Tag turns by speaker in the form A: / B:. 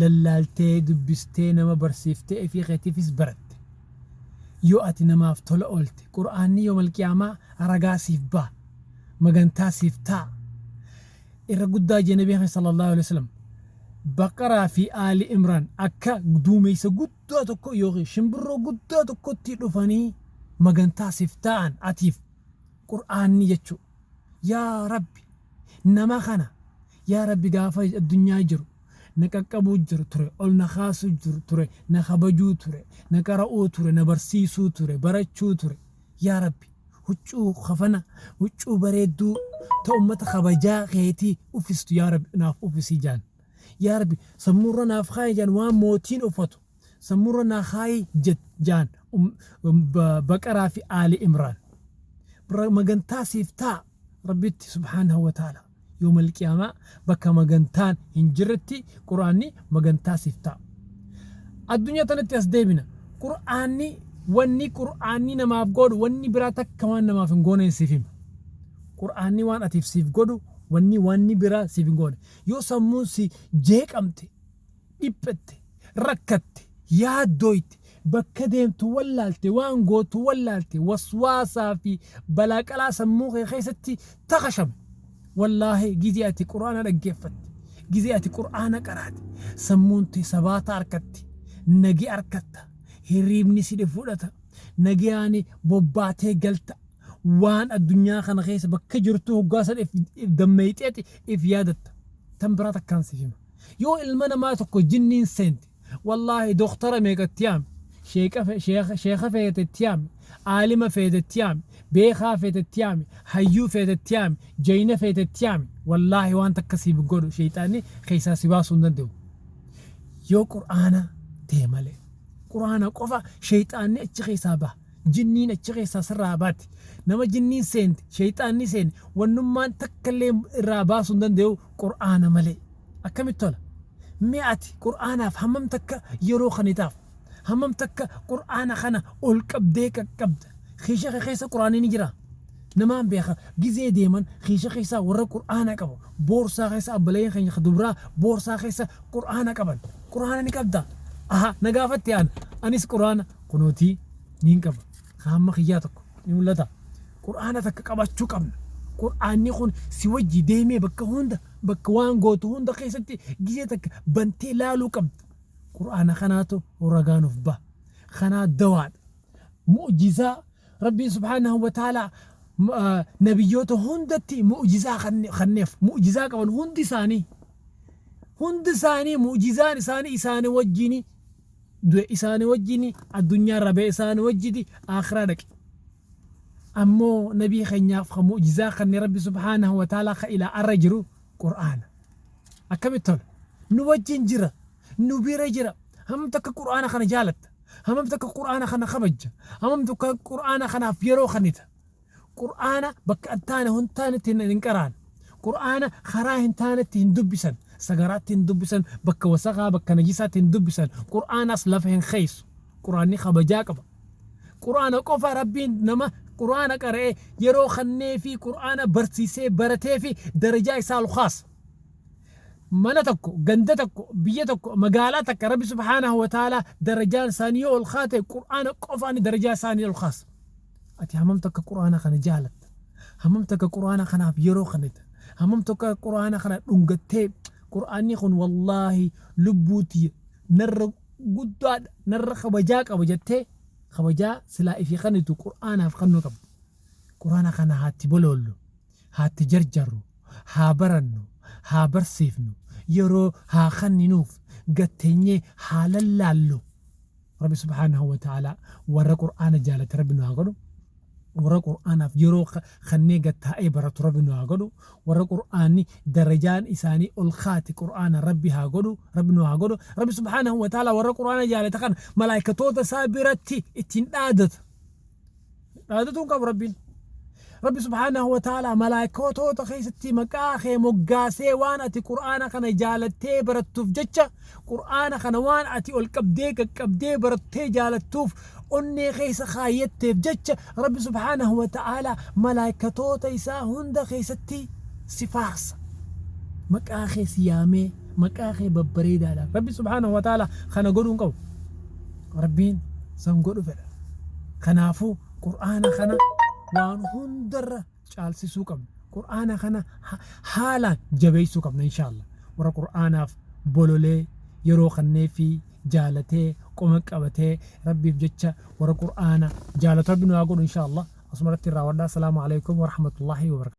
A: lallaaltee dubbistee nama barsiifte ifii keetiifis baratte. Yoo ati namaaf tola oolte Qur'aanni yoomal qiyaamaa ragaa siif baha, magantaa siif taa'a. Irra guddaa jee nabii keenya sallallaahu aleyhi wasallam Baqaraa fi Aali Imraan akka duumeysa guddaa tokko ykn shimbirroo guddaa tokkotti dhufanii magantaa siif taa'an atiif Qur'aanni jechuu. Yaa Rabbi! Nama kana yaa Rabbi gaafa addunyaa jiru na qaqqabuu jiru ture, ol na kaasuu jiru ture, na kabajuu ture, na qara'uu ture, na barsiisuu ture, barachuu ture. Yaa Rabbi! Huccuu, kafana, huccuu bareedduu ta ummata kabajaa keetii uffistu yaa Rabbi naaf uffisi jaan. Yaa Rabbi! Sammuurra naaf kaayi jaan waan mootiin uffatu sammuurra naa kaayi jet jaan. Baqaraa fi Aali Imraan. Magantaa siif taa. Rabbitti subhaanahu wa ta'aalaa. Yawmal qiyaamaa bakka magantaan hin jirretti Qur'aanni magantaa siif ta'a. Addunyaa tanatti as deebina. Qur'aanni wanni Qur'aanni namaaf godhu wanni biraa takka waan namaaf hin gooneen siif hima. Qur'aanni waan atiif siif godhu wanni wanni biraa siif hin goone. Yoo sammuun si jeeqamte dhiphette, rakkatte, yaaddooyte, bakka deemtu wallaalte, waan gootu wallaalte, waswaasaa fi balaaqalaa sammuu kee keessatti takashame. Wallaahi gizee ati Qur'aana dhaggeeffatte, gizee ati Qur'aana qaraate, sammuun tee sabaata arkatti, nagee arkatta, hirriibni si fudhata, nageyaani bobbaatee galta, waan addunyaa kana keessa bakka jirtuu hoggaa san if dammeeyxeeti if yaadatta. Tan biraa takkaan si hima. Yoo ilma namaa tokko jinniin seente wallaahi doktara meeqa itti yaami, sheekha feete itti yaami, aalima feete itti yaami, beekaa feete itti yaami, hayyuu feete itti yaami, jayna feete itti yaami wallaahi waan takka siif hin godhu sheeyxaanni keessaa si baasuu hin danda'u. Yoo qur'aana ta'e malee. Qur'aana qofa sheeyxaanni achi keessaa baha. Jinniin achi keessaa sirraa baati. Nama jinniin seente, sheyxaanni seene, wannummaan takka illee irraa baasuu hin dandayu Qur'aana malee. Akkamitti tola? Mee ati Qur'aanaaf hammam takka yeroo kennitaaf? Hammam takka Qur'aana kana ol qabdee qaqqabda? Kiisha kee keessa Qur'aanni ni jiraa? Namaan beeka gizee deeman kiisha keessaa warra Qur'aana qabu. Boorsaa keessa abbalayeen keenya ka dubraa boorsaa keessa Qur'aana qaban. Qur'aana ni qabda? Aha, na gaafatte ana. Anis Qur'aana Kunootii niin qaba. Ka hamma kiyyaa tokko ni mul'ata. Qur'aana takka qabachuu qabna. Qur'aanni kun si wajji deemee bakka hunda bakka waan gootu hunda keessatti gizee takka bantee laaluu qabda. Qur'aana kanaatu ragaa nuuf baha. Kanaa dawaadha. Mu'jizaa Rabbiin subhaanahu wa ta'aalaa m- ah, nabiyyoota hundatti mu'jizaa kanne- kanneef mu'jizaa qaban hundi isaanii hundi isaanii mu'jizaan isaanii isaanii wajjini du'e isaani wajjini addunyaa irraa ba'e isaani wajjini aakhiraa dhaqe ammoo nabii keenyaaf ka mu'jizaa kanne rabbi subhaanahu wa ta'aalaa ka ilaa arra jiru qur'aana akkamitti tola nu wajjin jira nu bira jira hamam takka qur'aana kana jaalatta hamam takka qur'aana kana kabajja hamam takka qur'aana kanaaf yeroo kannita Qur'aana bakka hin taane hin taanetti hin hin qaraan. Qur'aana karaa hin taanetti hin dubbisan. Sagaraatti hin dubbisan, bakka wasakaa, bakka najisaatti hin dubbisan. Qur'aanas lafa hin keeysu. Qur'aanni kabajaa qaba. Qur'aana qofa Rabbiin nama Qur'aana qara'ee yeroo kannee fi Qur'aana barsiisee baratee fi darajaa isaa ol kaasa. Mana tokko, ganda tokko, biyya tokko, magaalaa takka Rabbi subhaanahu wa ta'aalaa darajaan isaanii yoo ol kaate Qur'aana qofaani darajaa isaanii ol kaasa. Ati hammam takka Qur'aana kana jaalatta? Hammam takka Qur'aana kanaaf yeroo kennita? Hammam takka Qur'aana kana dhungattee Qur'aanni kun wallaahi lubbuu tiyya narra guddaadha, narra kabajaa qaba jettee kabajaa silaa ifii kennitu Qur'aanaaf kennuu qabda. Qur'aana kana haa itti boloollu, haa itti jarjarru, haa barannu, haa barsiifnu, yeroo haa kenninuuf, gad teenyee haa lallaallu. Rabbi subhaanahu wa ta'aalaa warra qur'aana jaalate Rabbi nu haa godhu, warra qur'aanaaf yeroo kennee gad taa'ee baratu Rabbi nu haa godhu, warra qur'aanni darajaan isaanii ol kaate qur'aanaan Rabbi haa godhu, Rabbi nu haa godhu. Rabbi subhaanahu wa ta'aalaa warra qur'aana jaalate kana malaa'ikatoota isaa biratti ittiin dhaadata. Dhaadatu hin qabu Rabbiin. Rabbi subhaanahu wa ta'ala malaayikootoota keessatti maqaa kee moggaasee waan ati Qur'aana kana jaalattee barattuuf jecha Qur'aana kana waan ati ol qabdee qaqqabdee barattee jaalattuuf onnee keessa kaayyatteef jecha Rabbi subhaanahu wa ta'ala malaayikatoota isaa hunda keessatti si faarsa. Maqaa kee si yaamee maqaa kee babbareedaadhaan Rabbi subhaanahu wa ta'ala kana godhuu hin qabu. Rabbiin san godhu fedha. Kanaafuu Qur'aana kana waan hundarra caalsisuu qabna. Qur'aana kana haalaan jabeessuu qabna inshaa Allah. Warra Qur'aanaaf bololee yeroo kanneefii jaalatee qoma qabatee Rabbiif jecha warra Qur'aana jaalatu Rabbi nu haa godhu inshaa Allah. Asumarratti irraa wadhaa. Salaamu alaikum wa rahmatullahi wa barakatuh.